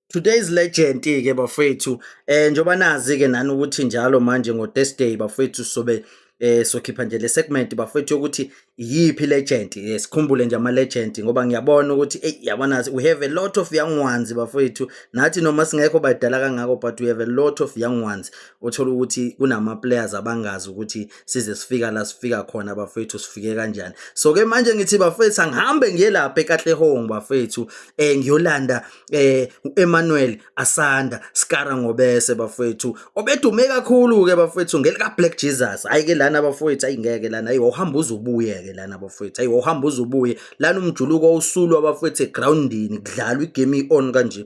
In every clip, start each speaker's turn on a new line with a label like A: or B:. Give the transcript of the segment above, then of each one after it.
A: Today's legend ke bafethu eh njoba nazi ke nani ukuthi njalo manje ngo Thursday bafethu sobe eh sokhipha nje le segment bafethu ukuthi yiphi legend eh, sikhumbule nje ama legend ngoba ngiyabona ukuthi hey yabona we have a lot of young ones bafethu nathi noma singekho badala kangako but we have a lot of young ones othola ukuthi kunama players abangazi ukuthi size sifika la sifika khona bafethu sifike kanjani so ke manje ngithi bafethu angihambe ngiye lapha ekatlehong bafethu eh ngiyolanda eh uEmmanuel Asanda Skara ngobese bafethu obedume kakhulu ke bafethu ngelika Black Jesus hayi ke lana bafethu ayingeke lana ayi uhamba uzubuye ke lana bafethu ayi uhamba uzubuye lana umjuluko usulu abafethu egroundini kudlalwa igame on kanje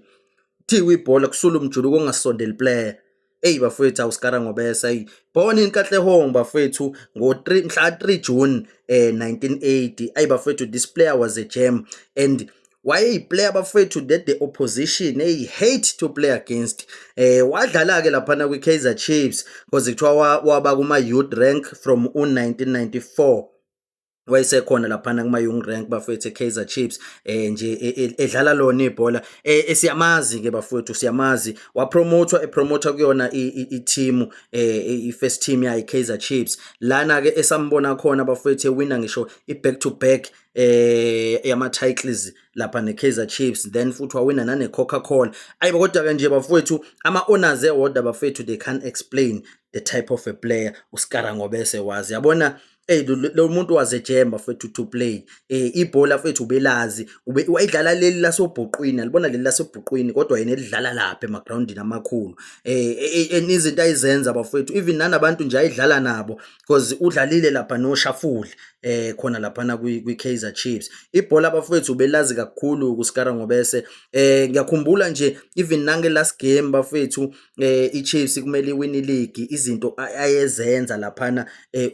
A: thiwa ibhola kusula umjuluko ongasondeli player Eyi bafowethu awusikara ngobesa eyi born in Katlehong bafowethu ngo 3 mhla 3 June eh 1980 ayi bafowethu this player was a gem and wayeyiplayer bafowethu that the opposition eyi hate to play against eh wadlala ke lapha na kwi Kaizer Chiefs because kuthiwa waba kuma youth rank from 1994 wayesekhona laphana kuma Young Rank bafethu eKaizer Chiefs eh nje e, e, edlala lona ibhola eh, eh siyamazi ke bafethu siyamazi wapromotwa epromota kuyona i-team eh i-first team yayi Kaizer Chiefs lana ke esambona khona bafethu ewina ngisho i-back to back eh yama titles lapha ne Kaizer Chiefs then futhi wawina nane Coca Cola ayibo kodwa ke nje bafowethu ama owners ewodwa bafowethu they can't explain the type of a player uSkara ngobese wazi yabona Hey lo muntu wazejemba mfethu to play eh ibhola mfethu ubelazi ube wayidlala leli lasobhuqwini alibona leli lasobhuqwini kodwa yena elidlala lapha emagroundini amakhulu eh, eh, eh, eh izinto ayizenza bafethu even nanabantu nje ayidlala nabo because udlalile lapha no Shafuli eh khona lapha na kwi Kaizer Chiefs ibhola bafethu ubelazi kakhulu kuSkara ngobese eh ngiyakhumbula nje even nange last game bafethu iChiefs kumele iwine iligi, izinto ayezenza laphana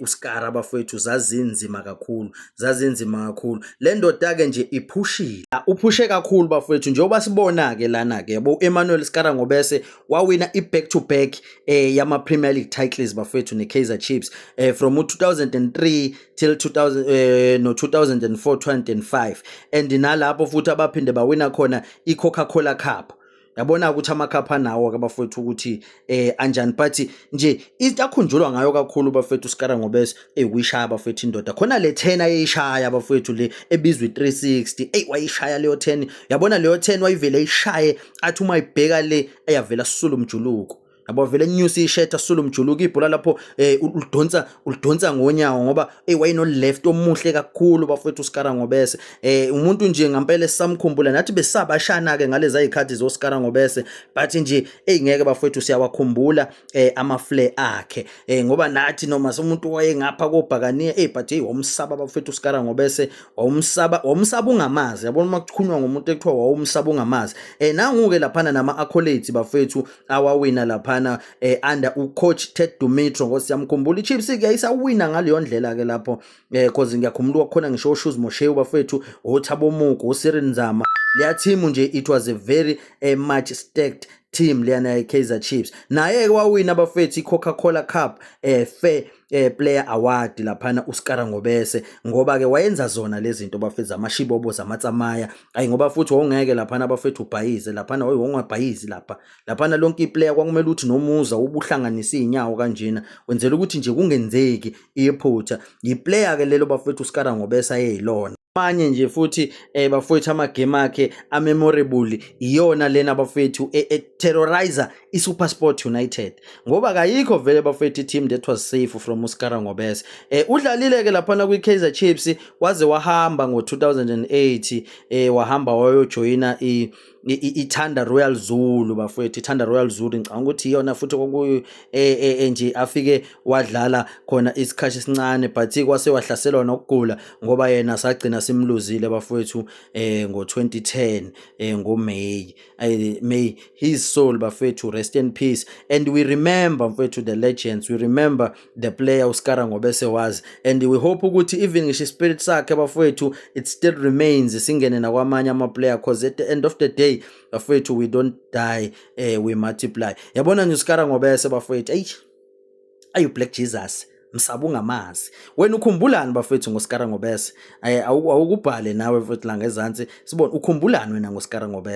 A: uSkara bafowethu zazinzima kakhulu, zazinzima kakhulu. Le ndoda-ke nje iphushile, uphushe kakhulu bafowethu njengoba sibona-ke lana-ke yabo u-Emmanuel Skara Ngobese wawina i-back to back eh, yama-Premier League titles bafowethu ne-Kaizer Chiefs eh, from u-2003 till 2000 eh, no-2004 2005 and nalapho futhi abaphinde bawina khona i-Coca-Cola Cup yabona ukuthi amakhapha anawo ke bafethu ukuthi eh anjani but nje into akhunjulwa ngayo kakhulu bafethu uSikara ngobese eyikushaya bafethu indoda khona le 10 ayishaya bafethu le ebizwe 360 ey wayishaya leyo 10 yabona leyo 10 wayivele ishaye athi uma ibheka le eyavela sisulu umjuluko yabo vele enyusa ishirt asula umjuluko ibhola lapho eh ulidonsa ulidonsa ngonyawo ngoba eh wayeno left omuhle kakhulu bafethu uSkara ngobese eh umuntu nje ngempela esamkhumbula nathi besabashana ke ngalezi ayikhathi zoSkara ngobese but nje eh ngeke bafethu siyawakhumbula eh ama flare akhe eh ngoba nathi noma somuntu wayengapha kobhakaniya eh but hey womsaba bafethu uSkara ngobese womsaba womsaba ungamazi yabona uma kuchunywa ngomuntu ekuthiwa wawumsaba ungamazi eh nangu ke laphana nama accolades bafethu awawina laphana eh, under ucoach Ted Dumitro ngosi yamkhumbula iChiefs ke yayisawina ngaleyo ndlela ke lapho eh cause ngiyakhumbula kwakhona ngisho uShoes Moshewu bafethu oThabo Mugu uSirin Nzama leya team nje it was a very eh, much stacked team leyana ye-Kaizer Chiefs naye-ke wawina abafethu i-Coca-Cola Cup eh fair eh player award laphana uSkara Ngobese ngoba ke wayenza zona lezi zinto bafethu amashibobo zamatsamaya ayi ngoba futhi wawungeke laphana bafethu ubhayize laphana wayi wongabhayizi lapha laphana lonke iplayer kwakumele ukuthi nomuza ubuhlanganisa izinyawo kanjena wenzela ukuthi nje kungenzeki iphutha yiplayer ke lelo bafethu uSkara Ngobese ayeyilona manye nje futhi eh bafowethu amagame akhe amemorable iyona lena bafowethu e-terrorizer e-, iSuperSport United ngoba kayikho vele bafethu i-team that was safe from uSkara Ngobese eh udlalile ke laphana kwi-Kaizer Chiefs waze wahamba ngo-2008 eh wahamba wayojoyina i ithanda Royal Zulu bafowethu ithanda Royal Zulu ngicabanga ukuthi iyona futhi kokuyo eh, eh, eh, nje afike wadlala khona isikhathi esincane but kwase wahlaselwa nokugula ngoba yena sagcina simluzile bafowethu eh ngo-2010 eh ngoMay I, may his soul bafethu rest in peace and we remember mfethu the legends we remember the player uskara ngobese was and we hope ukuthi even ngisho ispirit sakhe bafethu it still remains singene nakwamanye amaplayer because at the end of the day bafethu we don't die uh, we multiply yabona nje uskara ngobese bafethu eyi ayu black jesus msaba ungamazi wena ukhumbulani bafethu ngosikara ngobese awukubhale nawe mfethu la ngezansi sibone ukhumbulani wena ngosikara ngobese